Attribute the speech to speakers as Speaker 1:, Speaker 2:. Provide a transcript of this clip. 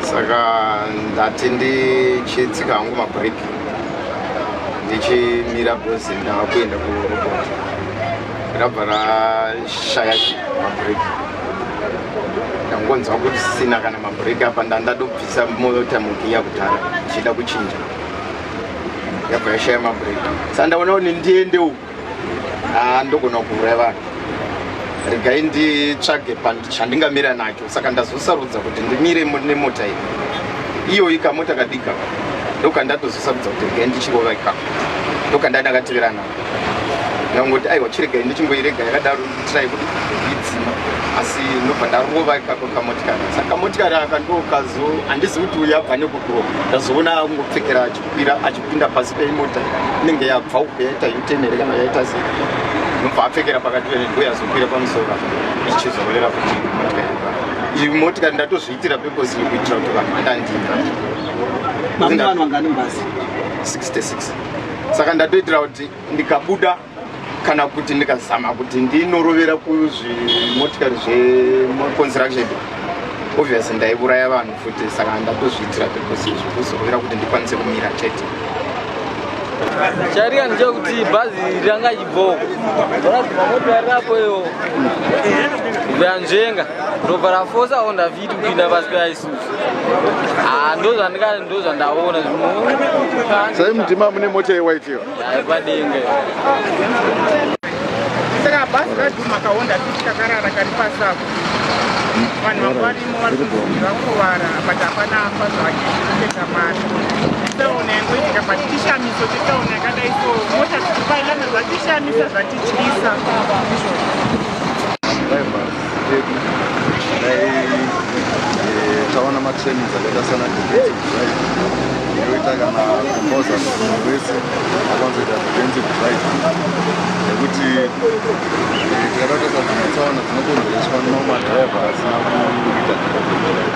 Speaker 1: saka ndati ndichitsika hangu mabreak ndichimira bhozi ndava kuenda kuroboti rabva rashaya mabreak ndangonzwa kuti sina kana mabreak apa ndandadobvisa mota mugiya kudhara ndichida kuchinja yabva yashaya mabreak sandaona kuti ndiende uku Ah, ndogona kuuraya vanhu regai nditsvage chandingamira nacho saka ndazosarudza kuti ndimire nemota iyi iyoyi kamota kadika ndokandatozosarudza kuti regai ndichirova ikako ndokandai ndakatevera nako ndangoti aiwa chiregai ndichingoirega yakadaro nditirai kuti idzima asi ndobva ndarova ikako kamotikari saka kamotikari aka ndokazo handizi kuti uyabva nekukurova ndazoona kungopfekeracho kwira achipinda pasi peimota inenge yabva uko yaita utenere kana yaita sei nobva apfekera pakati penengo yazokwira pamusoro ichizororera kuti motikari iyi motikari ndatozviitira pekosi kuitira kuti vanhu vandandinga saka ndatoitira kuti ndikabuda kana kuti ndikazama kuti ndinorovera kuzvimotikari zveconstruction obvious ndaiuraya vanhu futi saka ndatozviitira pekusi zvekuzorovera kuti ndikwanise kumira chete
Speaker 2: chariya ndechekuti bhazi ranga chibhoo rapo iyo yanzvenga ndobva rafosa o ndaviti kupinda pasi peaisusu ah, ndozvandaona
Speaker 3: sai mutima mune mota yewaitiyo
Speaker 4: Saka bhazi radhuma kaonda kuti kakarara kari pasako vanhu vanga varimo vari kunzi vakuvara but hapana afa zvake kutenga mari taona yangoitika but chishamiso chetaona yakadai so mota dzichipailana zvatishamisa zvatityisa pedu
Speaker 3: dai eh, taona matrainings akaita sana defensive drive inoita kana composa wese akanzoita defensive drive nekuti eh, tikada kutoita dzimwe tsaona dzinokonzereswa nomadriver asina kuita defensive drive